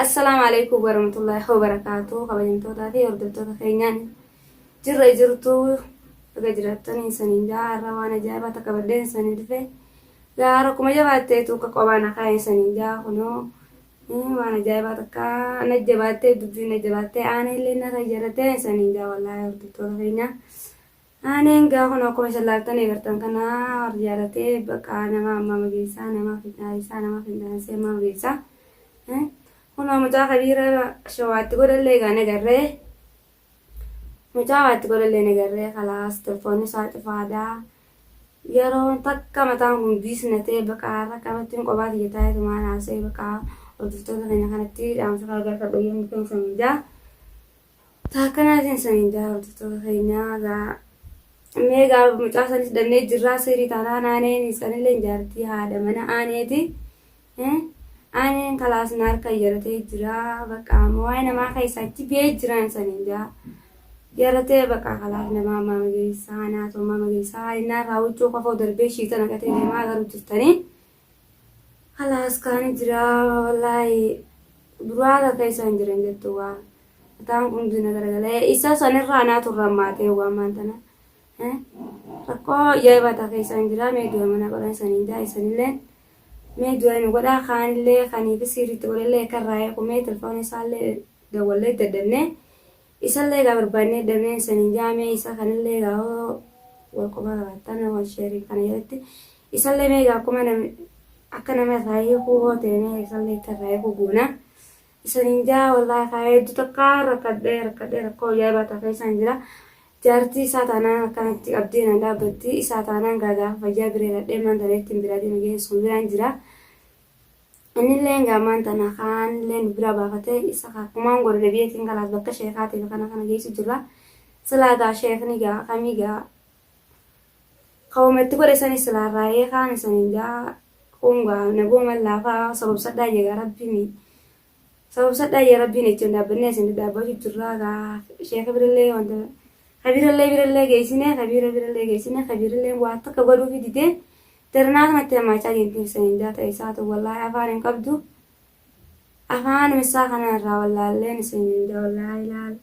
Assalaamu alaikum warahmatullahi wabarakatuh kabajamtootaa fi hordoftoota keenyaan jirra jirtu baga jiraattanii isaniin jaa har'a waan ajaa'ibaa takka baddeen isanii dhufe yaa har'a kuma jabaattee tuuka qobaan akaa isaniin jaa kunoo waan ajaa'ibaa takka na jabaattee dubbii na jabaattee aana illee na fayyadattee isaniin jaa wallaahi hordoftoota keenyaa Ani engaa kun akkuma isin laaltan eegartan kana warri jaalatee baqaa nama ammaa mageessaa nama fidhaayisaa nama fidhaansee ammaa mageessaa Eh, kunoo mucaa kabiira shawaatti godhallee egaa nagarree mucaa waatti godhallee nagarree kalaas telefoonni isaa cufaadaa yeroo takka mataan kun giisnatee baqaa irra qabatti hin qobaa kiyya taa'ee tumaan haasa'e baqaa hordoftoota keenya kanatti dhaamsa kaagaa qabbayyee mukaan samijaa Taa kanaatiin saniin jaa hordoftoota keenyaa gaa mee gaa mucaa san hidhannee jirraa seerii taanaan aaneen sanillee jaartii haadha mana aaneeti aaneen kalaas na harka yaratee jira bakka amma waa'ee namaa keessa achi biyee jiraan saniin jaa yaratee bakka kalaas namaa ammaa mageessaa naatoo ammaa mageessaa innaa irraa huccuu kofoo darbee shiita naqatee deemaa garuu jirtanii Kalaas kaani jiraa wallaahi duraa akka keessa hin jiran jettu waa mataan kun hundi na garagalee isa sanirraa anaa turra ammaatee waan maan tana eh, rakkoo ajaa'ibaa takka keessa hin jiraa mee du'a mana godhan saniin jaa isanilleen mee du'a nu godhaa kaanillee kaniifi siiriitti godhallee akka irraa eekumee telefoona isaallee dawwallee daddannee Isallee egaa barbaannee dhabneen saniin jaa mee isa kanallee egaa hoo wal quba qabaattan wal sheeriin kana jalatti isallee mee egaa akkuma nam akka nama irraa hiikuu hoo ta'e mee isallee akka irraa hiikuu goona isaniin jaa wallaahi kaa hedduu takka rakkadhee rakkadhee rakkoo ajaa'ibaa takka isaan jira jaartii isaa taanaan akkanatti qabdee na dhaabbatti isaa taanaan gaagaa fayyaa bireeradhee man taneetti hin biraa deema geessuun biraan jira. Innillee egaa ammaan tana kaa anillee nu biraa baafatee isa kaa kumaan godhu debi'eetiin kalaas bakka sheekaatiif kana kana geessu jirra. Silaa gaa sheekni gaa akamii gaa kawama itti godhe sani silaa raayee kaani sani gaa kun gaa nagooman laafaa sobobsadhaa jee gaa rabbiini. Sobobsadhaa jee rabbiin jechuun dhaabbannee isin dhaabbachuu jirraa gaa sheeka birallee wanta kabirallee birallee geessinee kabiira birallee geessinee kabiirallee waa takka godhuufi didee Sirnaa kanatti hirmaachaa jirti Hussein Indaa ta'e isaa ta'u wallaahi afaan hin qabdu. Afaan isaa kana irraa wallaalleen Hussein Indaa wallaahi ilaal.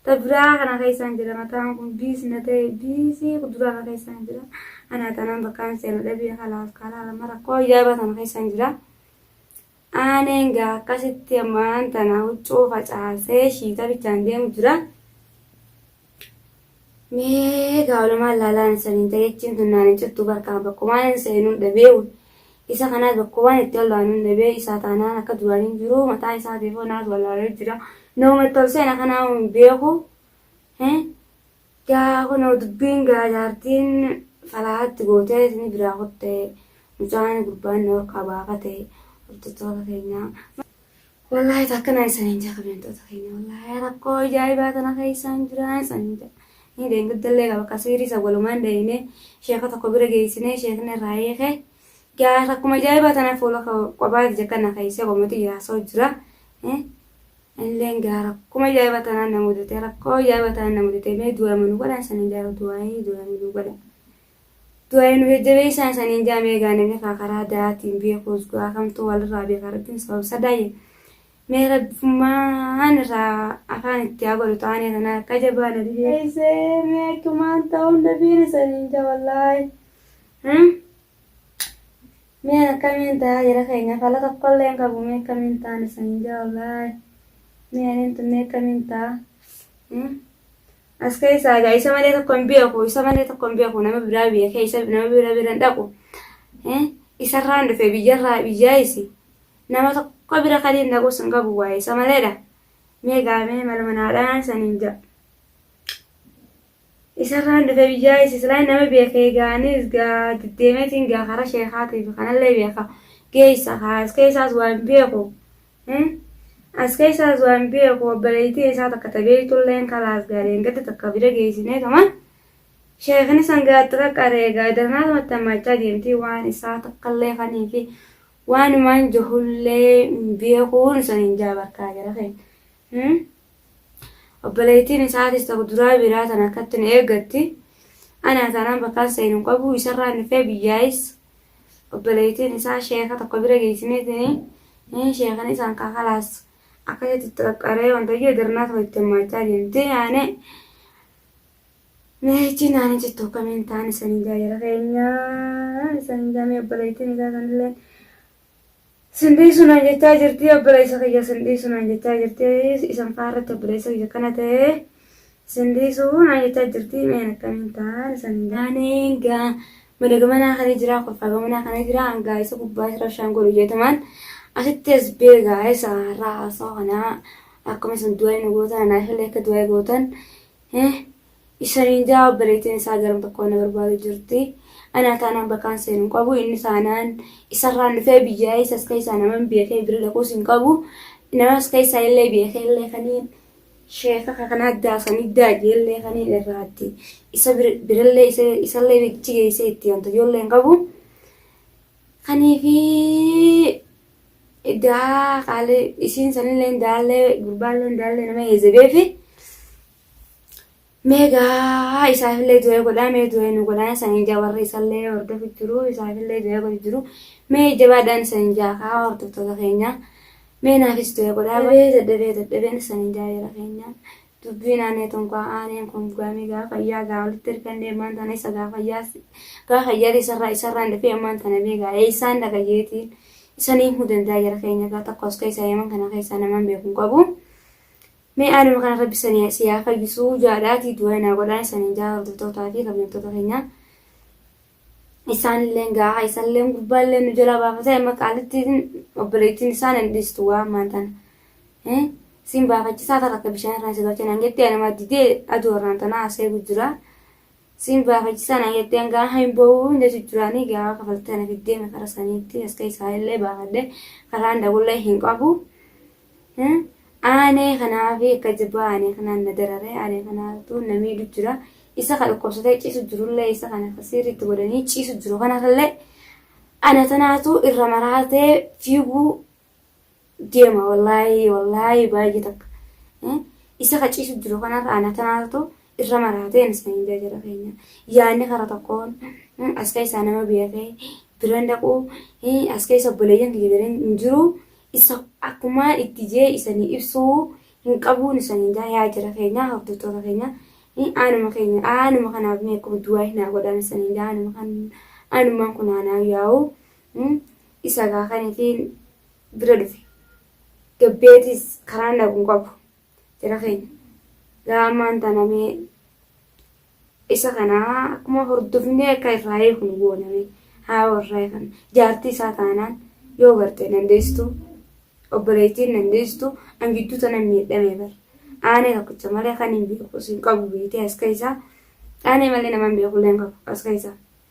Ta biraa kana keessaan jira mataan kun biis na ta'e biisii kuduraa kana keessaan jira. Anaa tanaan bakkaan seenu dhabee kalaas karaa lama rakkoo ajaa'ibaa sana keessaan jira. Aaneen egaa akkasitti ammaan tana huccuu facaasee shiita bichaan deemu jira. Mee gaa olumaan laalaan saniin ta'eechiin tunnaan hin cittu barkaan bakkumaan hin seenuun dhabee isa kanaas bakkumaan itti ol'aanuun dhabee isaa taanaan akka duraan hin jiru mataa isaa deefoo naas wal'aalee jira. Nooma itti ol seena kanaa hin beeku. Gaa kunoo dubbiin gaa jaartiin falaahatti gootee isinii biraa kutte mucaan gurbaan na warqaa baafate hordoftoota keenyaa. Wallaahi takka na isaniin jaa kabeentoota keenya wallaahi rakkoo ijaa'ibaa tana keessaan jiraa isaniin jaa. Ni deengaddallee qaba akka siirii isa walumaan deemnee sheeka tokko bira geessinee sheekni irraa hiike. Gaa rakkuma ijaa'ibaa tana fuula qobaati jekkana keessee qomotii jiraasoo jira. Anilleen gaa rakkuma ajaa'iba tanaan na mudate rakkoo ajaa'iba tanaan na mudate mee du'aayima nu godhaan saniin jaa du'aayii du'aayima nu godha du'aayii nu jajjabeessaan saniin jaa mee gaa namni kaa karaa da'aatiin beekuus gaa kamtu walirraa beeka rabbiin sabab sadaayye mee rabbummaan irraa afaan itti haa godhu taanee tanaa akka jabaa na dhibeessee mee akkumaan ta'uun dabiin saniin jaa wallaahi. Mee akkamiin ta'a jara keenya fala tokkollee hin qabu mee akkamiin ta'an isaniin jaa wallaahi mee aniin tun mee akkamiin ta'a as keessaa egaa isa malee tokko hin beeku isa malee tokko hin beeku nama biraa biyya keessa nama biraa bira hin dhaqu isarraan dhufe biyyarraa biyyaa isi nama tokko bira kan hin dhaqus hin qabu waa'ee isa maleedha mee gaamee maluma naadhaan isaniin jaa. Isarraan dhufe biyyaa is islaayin nama beekee gaanii is gaa deddeemeetiin gaa karaa sheekaatii fi kanallee beeka geessa kaa as keessaas waa hin beeku as keessaas waa hin beeku obboleettii isaa takka tabeeytulleen kalaas gaa deengadda takka bira geessinee tuma sheekni san gaatti qaqqaree gaa darnaa tamatti hammaachaa deemtii waan isaa takkallee kanii fi waanumaan jahullee hin beekuun san hin jaabarkaa gara keenya. Hmm? Obboleettiin isaatis tokko duraa biraa tana akkatti na eeggatti. Anaa taanaan bakkaan seenu hin qabu isarraan dhufee biyyaayis. Obboleettiin isaa sheeka tokko bira geessineetini. Inni sheekan isaan kakalaas akkasitti itti qaqqaree wanta iyyuu darnaa tokko itti hirmaachaa deemtee yaane. Meechi naani jettu akkamiin taan isanii jaajara keenyaa isanii jaamee obboleettiin isaa sanillee Sin dhiisu naan jechaa jirti obboleessa kiyya sin dhiisu naan jechaa jirti isan faa irratti obboleessa kiyya kana ta'e sin dhiisu naan jechaa jirti meen akkamiin ta'an isan hin gaaneen gaa madaga manaa kana jira kolfaaga manaa kana jira hangaa isa gubbaa isa rabshaan godhu jeetumaan asitti as beegaa isa har'aa haasoo kana akkuma isan du'aa hin gootan anaaf illee akka du'aa gootan Shaniin ja'a obboleettiin isaa garam tokkoo na barbaadu jirti. Anaa taanaan bakkaan seenu hin qabu. Inni taanaan isarraan dhufee biyyaa isas keessaa naman beekee bira dhaquus hin qabu. Namas keessaa illee beekee illee kaniin sheeka kanaa daasanii daajee illee kaniin irraatti isa birallee isallee bichi geessee itti wanta ijoollee hin qabu. Kaniifi daa qaalee isiin sanillee daallee gurbaallee daallee nama heezebeefi. Mee gaa isaafillee du'ee godhaa mee du'ee nu godhaa isan ijaa warri isallee hordofu jiru isaafillee du'ee godhu jiru mee jabaadhaan isan ijaa kaa hordoftoota keenya mee naafis du'ee godhaa baay'ee dadhabee dadhabeen isan ijaa jira keenya dubbiin aanee tonkaa aaneen kun gaamii gaa fayyaa gaa walitti ergannee ammaan tana isa gaa fayyaa gaa fayyaa isarraa isarraan dhufee ammaan tana mee gaa eessaan dhagayeetiin isaniif mudandaa jira keenya gaa tokkos keessa yeman kana keessaa namaan beekun qabu. Mee aanuma kana rabbi sani si haa fayyisu jaadhaati du'aa naa godhaa isanin jaa hordoftoota fi kabajamtoota keenya isaanilleen gaaha isalleen gurbaallee nu jalaa baafate amma qaalittiin obboleettiin isaa nan dhiistu waa ammaan tana Eh, siin baafachisaa ta'a akka bishaan irraan si galchan hangetti anuma didee aduu irraan tana haasee gujjira Siin baafachisaa naan jettee hangaa hain boo'uu hunda jijjiraanii gaafa kafaltee na fiddee me kara saniitti as keessaa illee baafadhe karaan dhaqullee hin qabu. Aanee kanaafi akka jabaa aanee kanaan na dararee aanee kanaatu na miidhu jira. Isa ka dhukkubsatee ciisu jirullee isa kana ka siiriitti godhanii ciisu jiru kanallee ana tanaatu irra maraatee fiiguu deema wallaahi wallaahi baay'ee takka isa kaciisu jiru kanarra ana tanaatu irra maraatee anis kan indaa jira keenya yaadni kara tokkoon as keessaa nama biyya kee biran dhaquu as keessa obboleeyyan kiyya biran hin jiru isa akkuma itti jee isanii ibsuu hin qabuun isan indaa yaa jira keenya hordoftoota keenya aanuma keenya aanuma kanaaf mee akkuma duwaa hin haa godhaan isan indaa aanuma kan aanumaan kun aanaa yaa'u Isa gaa kan ifiin bira dhufe. Gabbeetis karaan dhaqu hin qabu. Jara keenya. Gaa ammaan tana mee isa kana akkuma hordofnee akka irraa eegnu gooname haa warraa kan jaartii isaa taanaan yoo garte dandeessitu obboleettiin dandeessitu an gidduu tana miidhame bar aanee tokkicha malee kan hin beeku isin qabu beetee as keessaa aanee malee nama hin beeku illee hin qabu as keessaa.